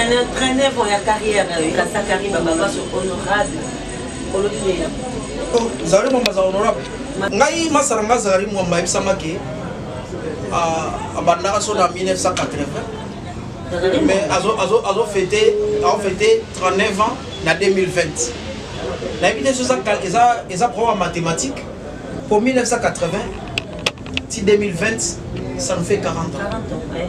Traîner, traîner vont ya carrière, Kassa Karim, Baba, sur honorable. Olodile. Oh, Zari Mwamba, za honorable. Ngai, masara nga Zari Mwamba, ebisama ke, abandaka so na 1980. Mais azo, azo, azo fêter, azo fêter 39 ans na 2020. nayebi te so eza problème ya mathématique mpo 1980 ti 2020 ça nous fait 40 ans, 40 ans ouais.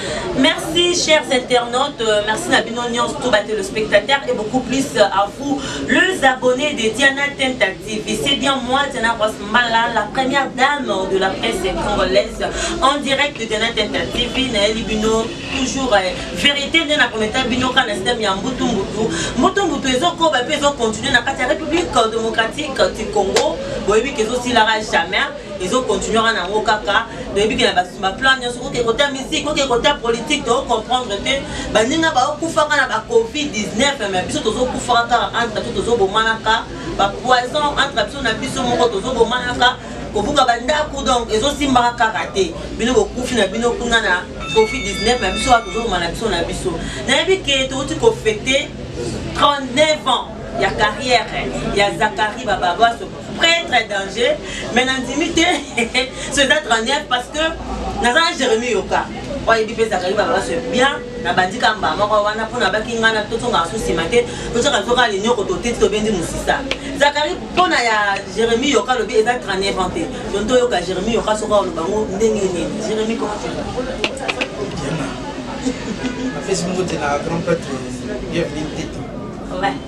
Merci chers internautes, euh, merci na bino nyonso tout ba téléspectateurs et beaucoup plus euh, à vous les abonnés de Diana Tenta TV. C'est bien moi Diana Rosmala, la première dame de la presse congolaise en direct de Diana Tenta TV na Elibino toujours euh, vérité nde na kometa bino ka na système ya mbutu mbutu. Mbutu mbutu ezokoba mpe ezokontinue na kati ya République démocratique du Congo boyebi ke ezosilaka jamais ezo continuer wana yango kaka toyebi ke na basima plan nyonso oke kota musique oke kota politique to comprendre te baninga baokufaka na ba covid 19 me biso tozokufaka kaka entre biso tozobomanaka bapoison entre biso na biso moko tozobomanaka kobuka bandako donc ezosimbaka kaka te bino bokufi na bino kuna na covid 19 na biso wana tozoboma na biso na biso nayebi ke touti kofete 39 ans ya carrière ya zakari bababas pretre danger mais nandimi te so eza 39 parce que naza na jérémi yoka oyebi mpe ezalaka yeba baso bien nabandi ka mbaa moko wana mpo nabaki ngai na tozongaka so nsima te tozaka zoka linyoko toteti tobendi mosisa zakari mpo na ya jérémi yoka alobi eza 39 ans te don toyoka jérémi yoka soki aloba ngo ndenge nini jérémi komaapesi mbote na grand prêtre bienvenu tete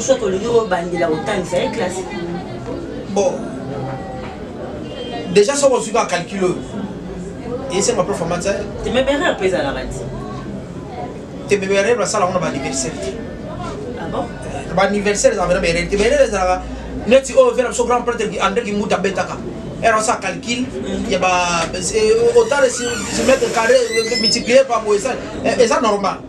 soki olingi obandela kotangisa ye classe bon déjà soki ozwi kaka calcul oyo esenga prof amatisa temeberer mpe ezalaka ti temeberer basala yango na baanniversaire te ah eh, baanniversaire ezalaka na baerere temeberer ezalaka neti oyo vena biso grand prêtre andré kimbuta abetaka ero asa calcul ya ba eh, otala si mètre carré eh, multiplier par moisa eza normal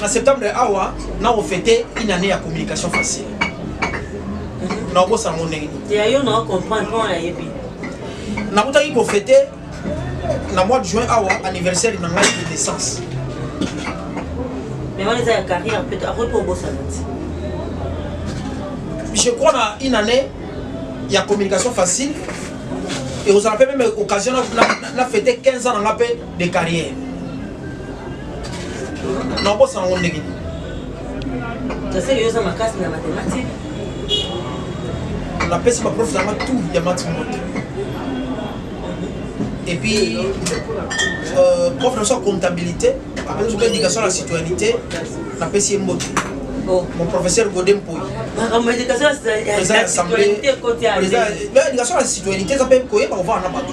na septembre awa na ofete une année ya communication facile mhm. na obosana ngo ndenge nakutaki kofete na mois de juin awa anniversaire na ngai de naissance je crois na une année ya communication facile ekozala mpe meme occasion na fete 15 ans na nga mpe de carrière nakosana ngo ndenge nini toseli yo oza makasi na matematike napesi baprof nanga tout ya matimote et puis euh, prof na biso ya comptabilité apesi soki éducation na citoyenneté napesi ye mbote oh. mon professeur gode mpoi président ya assemblée président ya éducation na citoyenneté eza mpe koyeba kovanda na bato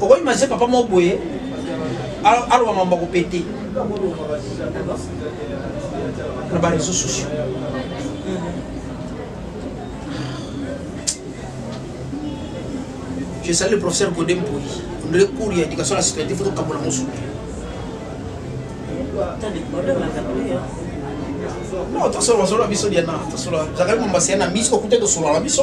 okoki maze papa moko boye aloba mambo akopete na bareseau sociaux je sali le professeur gode mpoli ondele cours ya éducation la citoyenneté fo tokabola mosusu non tosolola solola biso diana tosolola zakaki mombasi ya na miso okuta tosolola na biso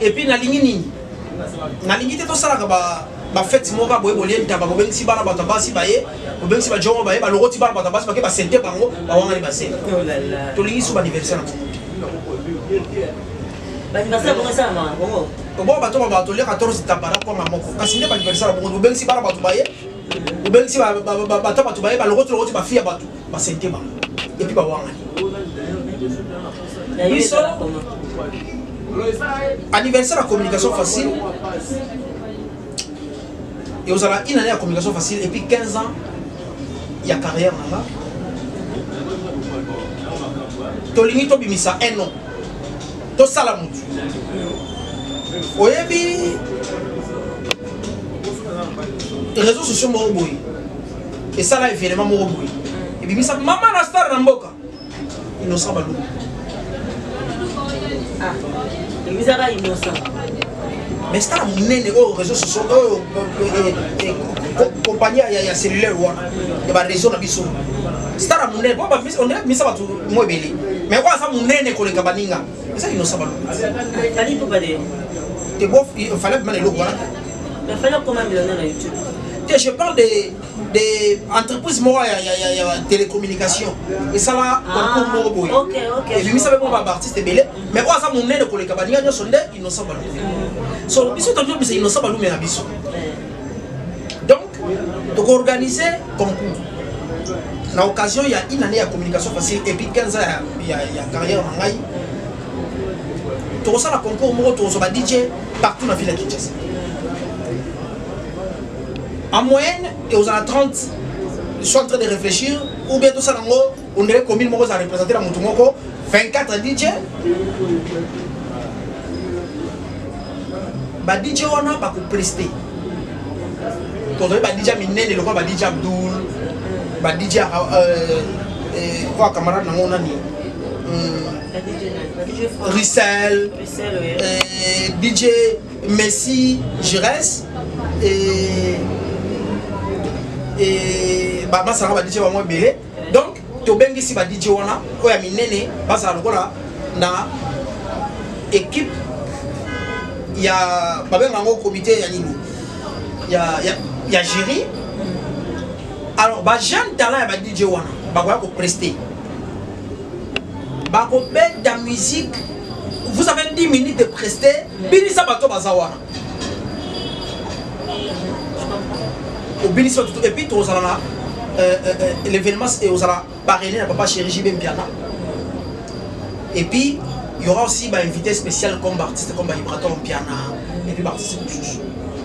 et puis nalingi nini nalingi te tosalaka ba bafeti moko kaka boye bolie ntaba bobengisi bana bato ya basi baye bobengisi bajongo baye balokoti bana bato ya basi bake basente bango bawangani basene oh tolingi so baaniversaire na bongo bongo bato ba bato lia 14 tabara kwanga moko kasi nde baaniversaire bongo bobengisi bana bato baye bobengisi bata bato baye balokoti lokoti bafi ya bato basalite bango epuis bawangani biso anniversaire ya communication facile eozala une année ya communication facile epuis 15 ans ya carrière na nga tolingi tobimisa un nom tosala motu oyebi réseau sociaux moko boye esala evenema moko boye ebimisa mama na star na mboka innocent balungu ah, emisaka innocent mais star monene oyo réseau soso oyo eh, eh, eh, compagnie ya cellulaire wana ya baréseau na biso star monene po ondire bimisa bato mo ebele mais oyo aza monene koleka baninga eza innocent balungu te bo fallait bimana eloko wana Mais fallait qu'on m'a mis dans la YouTube. te je parle de, de entreprise moko ya, ya, ya, ya télécommunication esala concours moko boye ebimisa mpe mpo baartiste ebele mais oyo aza monene koleka baninga nyonso nde innocent balume so biso tondi obisa innocent balume na biso donc tokoorganize concours na occasion ya une année ya communication facile epuis 15 ans ya, ya, ya carrière na ngai tokosala concours moko tokozwa ba dj partout na ville ya kinshasa en moyenne ekozala 30 soit en train de réfléchir ou bien tosala yango ondele commune moko eza représente na motu moko 24 dj ba dj wana bakopreste tozali ba dj minene lokola ba dj abdoul ba dj oyo euh, euh, camarade nango nani hmm. Russell. euh, DJ Messi Gires et et ba masala ba DJ ba mo belé donc to bengi si ba DJ wana ko ya minene ba sa lokola na équipe ya ba benga ngo comité ya nini ya ya ya jury alors ba jeune talent ya ba DJ wana ba ko prester bakobeta musique vous avez 10 minutes de preste binisa bato baza wana obinisa tutu epuis tozala na euh, euh, euh, l'événement ozala parrainé na papa chéri jb mpiana epuis y aura aussi bainvité spécial comme baartiste comme baibraton mpiana epuis baartiste mosusu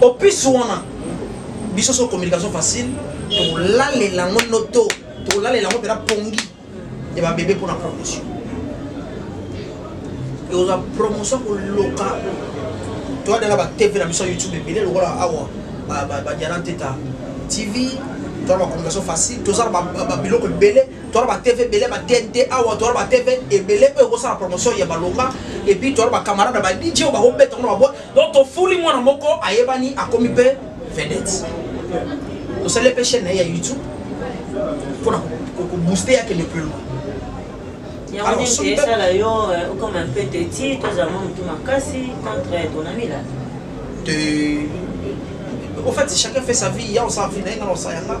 au plus wana biso so communication facile tolalela yango noto tolalela yango mpena pongi ya babebe mpona promotion ekozwa promotion koloka toadala ba tv na biso ya youtube ebele lokola awa badiana nteta tv toza na bacommunication facile toza na biloko ebele toza ba tv ebele ba tnt awa toza ba tv ebele oyo ekosala promotion ya malonga epuis toza bacamarade ba dj oyo bakobeta ngo na baboi donc tofuli mwana moko ayebani akomi mpe vedette tosali mpe chaîne na ye ya youtube mpona kobooste ya kende plus loin yango nini esala yo okoma mpe teti tozala mwa motu makasi contre ton ami la te au fait chacun fait sa vie ya osala vie na ye nga na osala yanga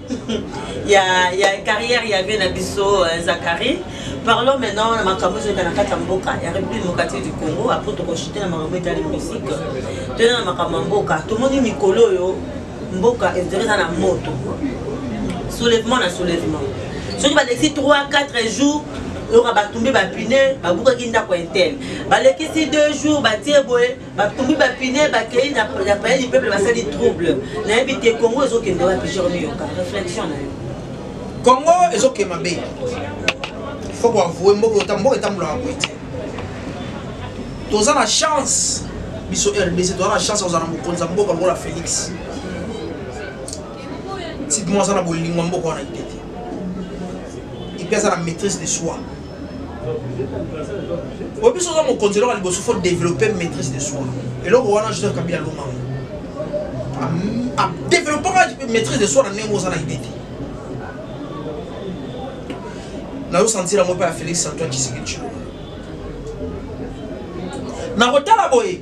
ya ya carrière ya vie na biso euh, Zachary parlons maintenant na makambo ezalaka na kati ya mboka ya république démocratique du congo apres tokoshite na makambo etali musique toyena na makambo ya mboka tomoni mikolo oyo mboka ezali eza na moto soulèvement na soulèvement soki balekisi 3 4 jours oyoka batumbi bapine babukaki ndako ya intel balekisi 2 jours batie boye batumbi bapine bakei na paya du peuple basali trouble nayebi te congo ezokende wapi jerome yoka réflexion na yo congo ezokende mabe faut koavoue mboka mboka etambulaka boye te toza na chance biso rdc toza na chance kozala na mokonzi ya mboka lokola félix tipement aza na bolingo ya mboka wana ite te ipe aza na maîtrise de soi oyebi biso oza mokonzi eloko ya liboso faut développer maîtrise de soi eloko wana joseph kabila alonga yango adeveloppaka maîtrise de soi na ndenge oza na ide te nazosentir yango mpe ya félix antoine tshisekedi chilombo nakotala boye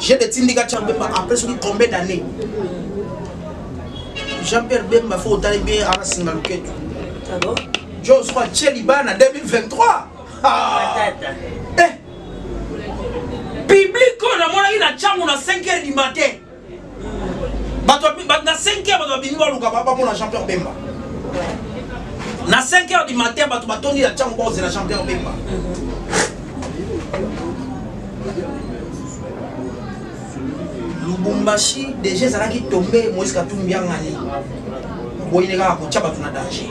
J'ai des tindika Jean Bemba après soki combien d'années Jean-Pierre Bemba faut otali bien ana singa luketu. Ah bon Joe soit chez Libana 2023. Ah. Eh. Public on a monaki na changu na 5h du matin. bato na 5 heure bato babimi baluka bamona jean pierre bemba na 5 heure du matin bato batondi ya ntango bakozela jean pierre bemba lubumbashi deja ezalaki tombe moïse katumbi angani boyine kaka kotya bato na danger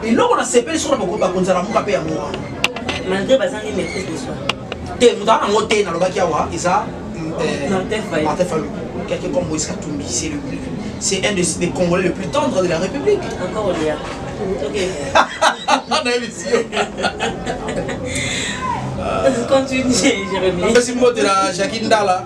eloko nasepeli soko bakonzala moka mpe yango wana malgré bazangi maîtrise de soi te moto aza nango te nalobaki awa eza euh, martin falu quelqu'un comme moïse katumbi c'est le c'est un des congolais le plus tendre de la république encore olia nayebisi yo continue jérémi mpesi mbote na jacqui ndala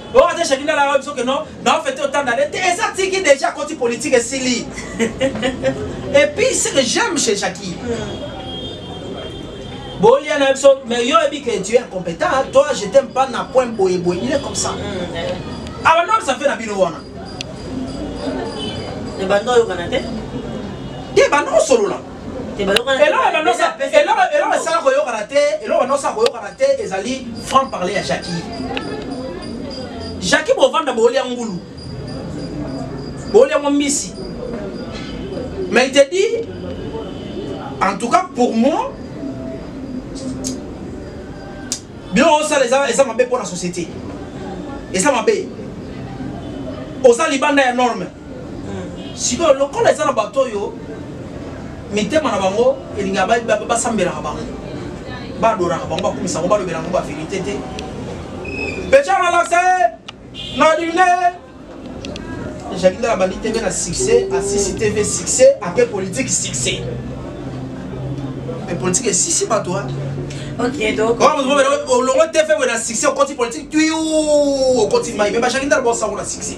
oyo ata shakina la biso ke non na ofete otanda te eza tiki déjà koti politique esili et puis ce que j'aime chez Jackie bolia na biso mais yo ebi que tu es incompétent toi je t'aime pas na point boye boye il est comme ça alors non ça fait na bino wana ebanda oyokana te te banda osolola eloko esala koyokana te eloko banosa koyokana te ezali franc parle ya jaki jaki bovanda boolya ngulu boolya mwa mbisi mais il te dit en tout cas pour moi biloko osala eza mabe mpo na société eza mabe oza libanda ya norme sikoyo lokola eza na bato oyo mitema na bango elinga basambelaka bango badoraka bango bakumisa bango balobela yango baverité te pechanalase na dune jaki ndala bandi tv na succès asisi tv succès apres politique succès mais politique esisi bato wana olongo te fe boye na succès okoti politique tuyu okoti mai me bajaki ndala baosango na succès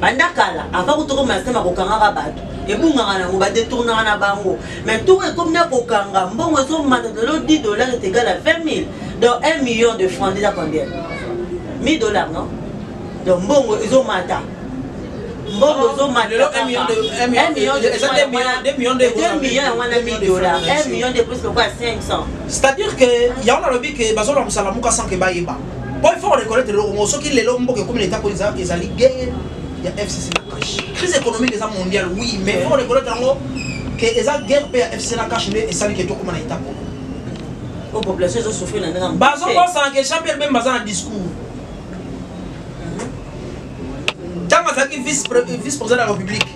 banda kala avant kutu okoma na système ya kokangaka bato ebungaka nango badetournaka na bango mais ntongo ekomi na kokanga mbongo ezomata lelo 10 dollar est égal à 20 000 donc 1 million de franc déjà combien 1000 dollar non donc mbongo ezomata mbongo ezomata million yango wana 1000 dollar 1 million de plus lokola 500 c'est à dire que yango nalobi ke bazolwa mosala moka sans ke bayeba po il faut koreconnaitre eloko moko soki lelo mboka ekomi na etat po ezali guerre ya fcc na cash crise économique eza mondial oui mais faut koreconnaitre yango ke eza guerre mpe ya fcc na cash nde esali ke tokoma na etat moko po population ezo souffrir na ndenge bazobosana ke jean pierre bemba aza na discours ntango azalaki vice président de la république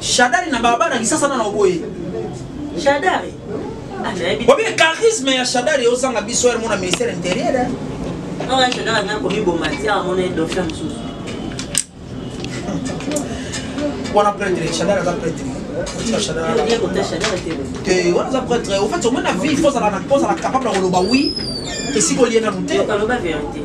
Shadari na baba na kisasa na oboye. Shadari. Obi ah, charisme ya Shadari ozanga biso ya mona ministère intérieur. Hein? Non, ah Shadari na komi bo matière mona dauphin sous. Wana prêtre Shadari za prêtre. te wana aza prêtre au fait omona vie fozala capable ya koloba wi esika olie nanu te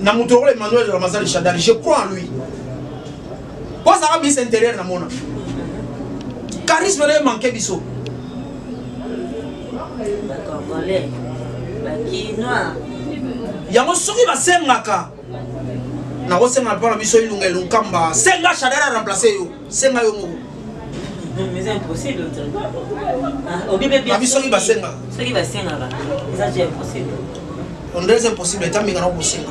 na moto lokola emmanuel ramazani shadari je crois en lui po azalaka ministre intérieur na mona charisme na ye manke biso yango soki basengaka nakosenga mpo na biso ilunga elunkamba senga shadari aremplace yo senga yo moko mais c'est impossible obi pe bien soki basenga soki basenga ba eza je impossible on dirait impossible etambi kana kosenga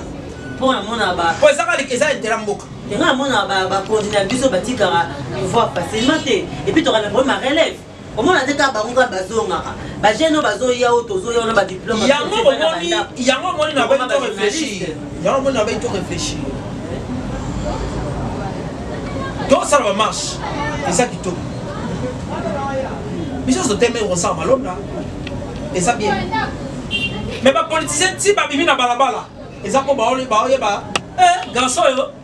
po na mona ba po eza kali eza intera mboka nga mona ba ba coordinateur biso batikaka pouvoir facilement te et puis to kana vraiment relève omona te kaka bango kaka bazongaka bagene oyo bazoya oyo tozoya wana badiplome yango omoni yango omoni na bai to réfléchir yango omoni na bai to réfléchir tosala bamarche eza kitoko biso tozoteme kosala malonda eza bien mais bapolitisien ti babimi na balabala eza mpo baoyeba eh, garçon oyo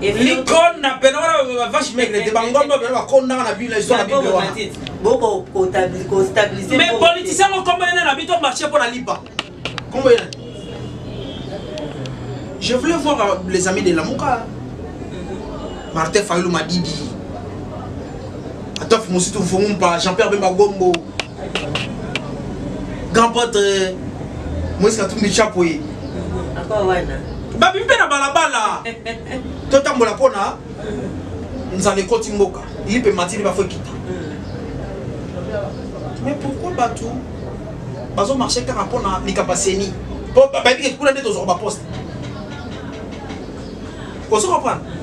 likona pena wana bavache maigre te bangomba pena bakondaka na bino ezo na bible wana mais politisi yango kombo ena na bito marché mpo na lipa kombo ena je voulais voir euh, les amis de lamuka martin fayulu madidi atof mositu mfungumpa jean pierre bemba gombo grand pote euh, moise katumbi chapo ye babimi mpe na balabala totambola mpo na nzala ekoti mboka ye mpe matini bafo ekita mm. mais pourquoi bato bazomarche kaka mpo na likambo aseni mpo bayebi ke kuna nde tozwaka baposte ozo comprendre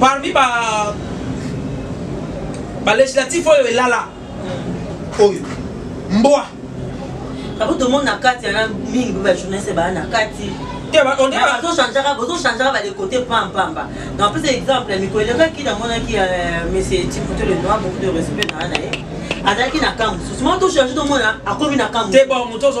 parmi ba ba législatif oyo elala oyo mbwa abo tomoni na kati yana mingi ba journaliste baa na kati bozochangeaka bozochangeaka badekote pampamba na apesa exemple mikolo elekaki namonaki euh, monsieur tipoto le noir beaucoup de respect naa na ye azalaki na camp mosusu ma tochange tomona akomi na camp mosusu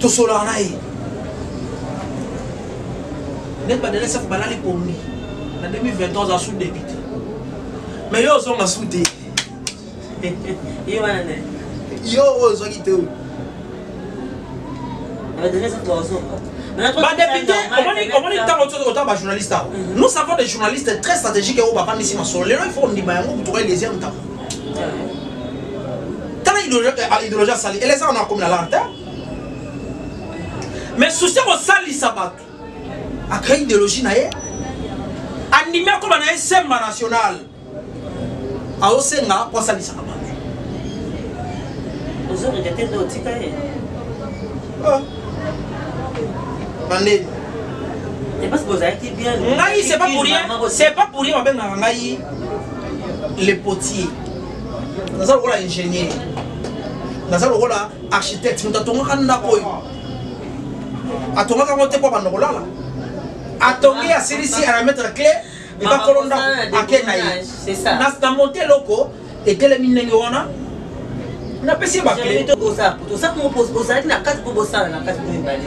tosolaka na ye neti badelesef balali pongi na 2023 oza sous débité mais yo ozonga sous te yo oyo ozwaki te oyo badepute omoni ntango otanga bajournaliste awa nous savons des journalistes très stratégique oyo bafandisi masolo lelo il faut ondima yango kutukai deuxième ntango tala idéologie asali elesa wana akomi na larte mais souci ya kosalisa bato acrée idéologie na ye andimi akoma na ye semba national aosenga mpo asalisaka bato bandeni ngai c'est pas pour rien c'est pas pour rien babengaka ngai le potier naza lokola ingénieur naza lokola architecte moto atongaka ndako oyo atongaka yango te mpo abanda kolala atongi asilisi arametre cle ebakolo ndako ake na ye na monte eloko etelemi ndenge wana napesi ye bakle ozalaki na kati mpo bosala na kati mpo mibale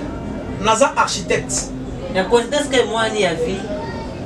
naza architecte na coincidence ke mwani ya vie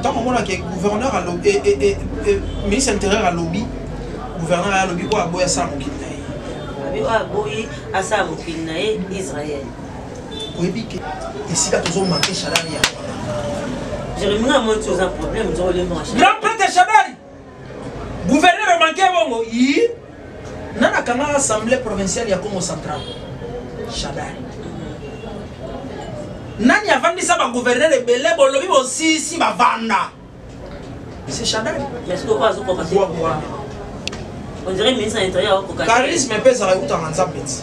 ntango omonaka gouverneur alobi eh, eh, eh, eh, ministre ya intérieur alobi gouverneur aye alobi oyo aboyi asala mokili na ye abi oyo aboyi asala mokili na ye israel oyebi ke esika tozomanke shalari yango jeremie na moni toza problème ozokolemba grand prêtre shabari Gouverneur manke bongo yi nana kanga assemblée provinciale ya Congo central. Shadari. Nani avandisa ba gouverneur ebele bolobi bosisi bavanda. C'est Shadari. Mais ce que quoi azo koka. On dirait ministre de l'intérieur akoka. Charisme pesa la utanga nzapeti.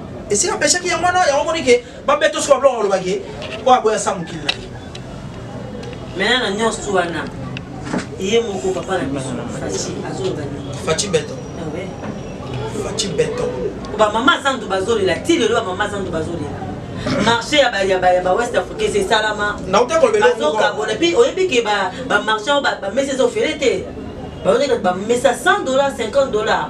esika peshaki yango wana yango omoni ke babeto soki babloko koloba ke oyo aboya sa mokili na ye mena na nyonso wana ye moko papa na biso faci azoloba nini faci beto ah faci beto bamama zandu bazolela ti lelo bamama zandu bazolela marché ya bawest africains esalama azokabona mpe oyebi ke bamarché bamesa eza ofele te baoyekati bamesa 100 dollar 50 dollar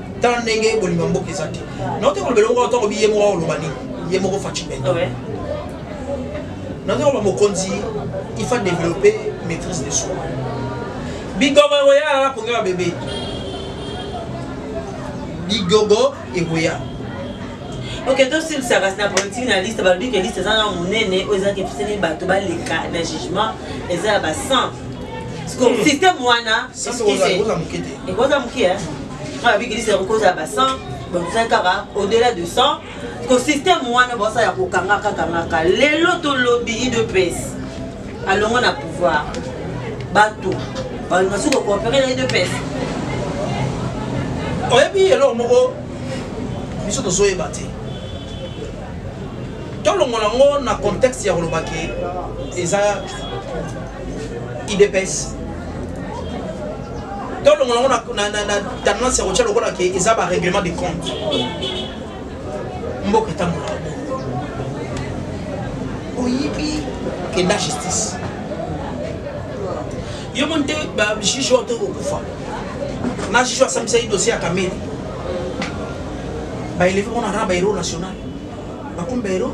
tala ndenge bolingo ya mboka eza te naote koloba elongo wana ntango biye moko oloba nini ye moko faci bento naote koloba mokonzi il faut développer maîtrise de soi bigogo ekoya alala konge ya bebe bigogo ekoya ok tosilisaka na politiki na liste balobi ke liste eza na monene oyo ezalaki episani bato baleka na jugement eza ya ba 100 système wana ekoza moke te wana bikilisi yango kozala ba 100 bakozali kaka au-delà de 100 ko système wana baosala ya kokanga kakangaka lelo tolobi idps alongo na pouvoir bato balinga soki kokoopere na idps oyebi eloko moko biso tozoyeba te tolongola yango na contexte ya kolobaki eza idps tolongola yango na tendance ya kotya lokola ke eza barèglement de compte mboka etambola oyibi kenda justice yo moni te bajuge oyo to kokufa na juge oyo asambisaki dossier ya kamere baeleve mona na bahéros national bakomi bahéros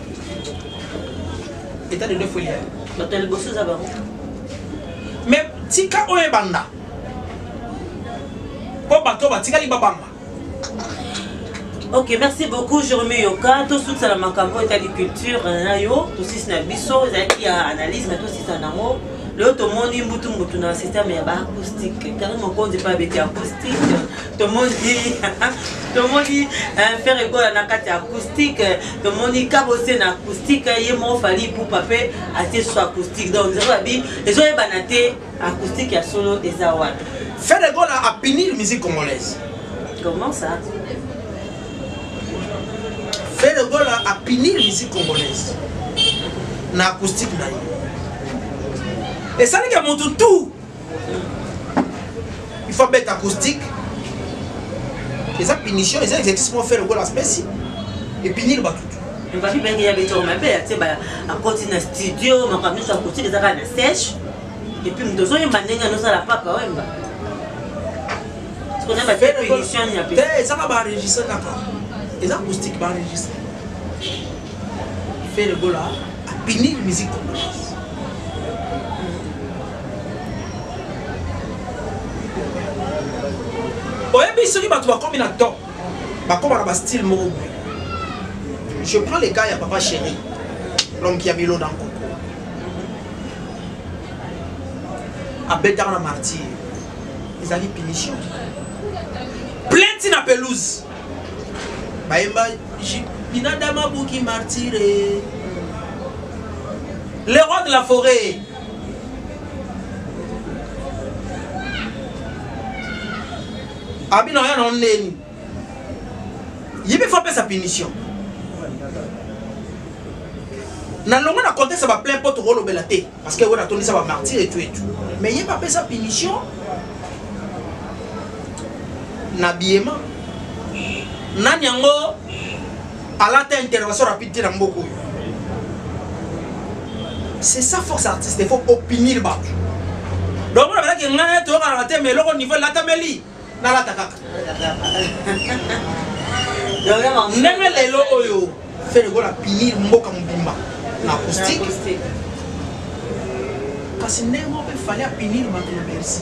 etat de deux fois eliani bato ya liboso eza bango mais tika oyo ebanda mpo bato batikali babanga ok merci beaucoup jerome yoka tosukisa na makambo oyo etali culture na yo tosisi na biso ezalaki ya analyse me tosisa nango lelo tomoni mbutumbutu na systeme ya baacoustique kari mokonzi mpe abeti acoustique tomoni tomoni eh, fere gola na kati ya acoustique eh, tomoni kabose na acoustique eh, ye moko fali pupa mpe atie so acoustique donc nzela babi ezoyebana te acoustique ya solo eza wana fere gola apinir musique congolaise comment ça fere gola apinir musique congolaise na acoustique na ye esalika motu tout il faut abeta acoustique eza punition eza exercice moko fere okola spesi epinili bato ebaki benge ya betoko mabe ya te akoti na studio makambo nyonso akoti eza kaka na sèche epuis moto ozoyemba ndenge anosala papa oyemba ezaka baenregistre kaka eza acoustique baenregistre fere gola apinili musique congolaise oyebi soki bato bakomi na temps bakoma na bastyle moko boye je prends le cas ya papa chéri l'homme qui a mis l'eau dans coco abetaka na martyr ezali punition plainte na pelouse bayemba binadama buki martyre le roi de la forêt abino aya na ndeni yebi fo apesa punition na longo na contexte ba plein pote kolobela te parce que oyo natondisa ba martyr etu etu mais ye bapesa punition na biyema nani yango alata intervention rapide te na mboka oyo c'est ça force artiste il faut opinir bato donc mona balaki ngai toyokana na te mais eloko niveau elatameli nalata kaka ndenge lelo oyo feregola pinir mboka mobimba na acoustique kasi ndenge moko mpe fale apinir bato na bercy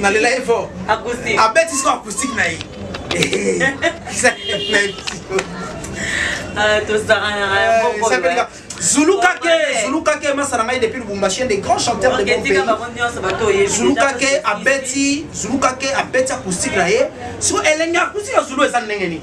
nalela ye fort abeti siko acoustique na ye zulukake zulukake masala ngai depuis lubumbashi un des grands chanteurs de mon pays zulukake abeti zulukake abeti acoustique na ye siko elenge acoustique ya zulu eza ndenge nini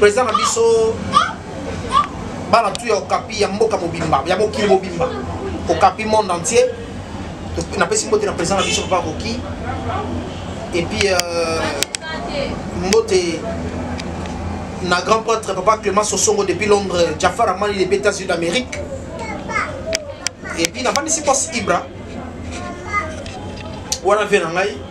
président na biso bana tu ya okapi ya mboka mobimba ya mokili mobimba okapi monde entier napesi mbote na président na biso papa koki et puis euh, mbote na grand prêtre papa clément sosongo depuis londres jafar amani depuis états-unis d'amérique et puis navandisi pos ibra wana vie na ngai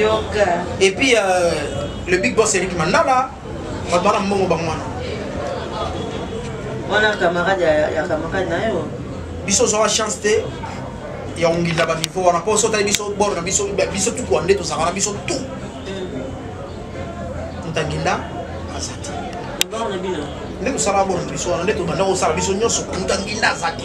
yoka et puis euh, le big boss Eric Mandala bato wana mbongo bango wana wana camarade ya, ya camarade na yo biso ozwaka chance te ya ongila baniveau wana mpo sotali biso bor na biso biso tout rwande tozalaka na biso tout motanginda mm. aza te nde tosala bor na biso wana nde tobanda kosala biso nyonso motanginda aza te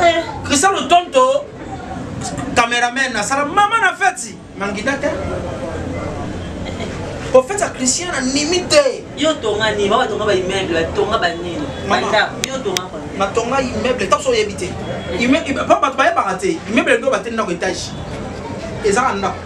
eh, christian lotonto cameraman asala mama na feti mangida te ofeti ya christian na nimi te yo tonga nini baba tonga baimmeuble batonga banini bandako yo tonga natonga immeuble ntango so oyebi te mpo bato bayebaka te immeuble nde bateli ndako etage eza na ndako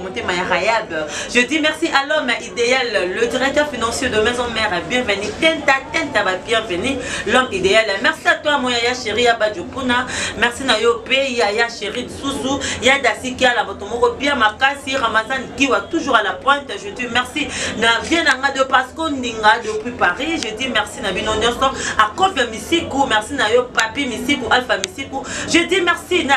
motema ya rayab je dis merci à l'homme idéal le directeur financier de maison mère bienvenue tenta tenta ba bienvenue l'homme idéal merci à toi mon yaya chéri ya badjopuna merci na yo pe yaya chéri susu ya dasikia la moto moko bien makasi ramazan kiwa toujours à la pointe je dis merci na vie na nga de pasco ndinga depuis paris je dis merci na bino nyonso akofi ya misiku merci na yo papi misiku alpha misiku je dis merci na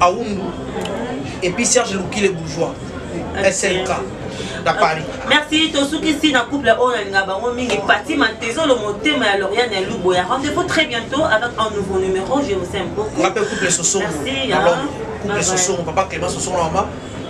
Aoundou. Et puis Serge Louki, les bourgeois. SLK. na paris merci tosukisi na couple oyo nalinga bango mingi pati mantezo lo motema ya loriane ya lubo ya rendez-vous très bientôt avec un nouveau numéro je vous aime beaucoup ngape couple sosongo merci couple sosongo papa clément sosongo na mama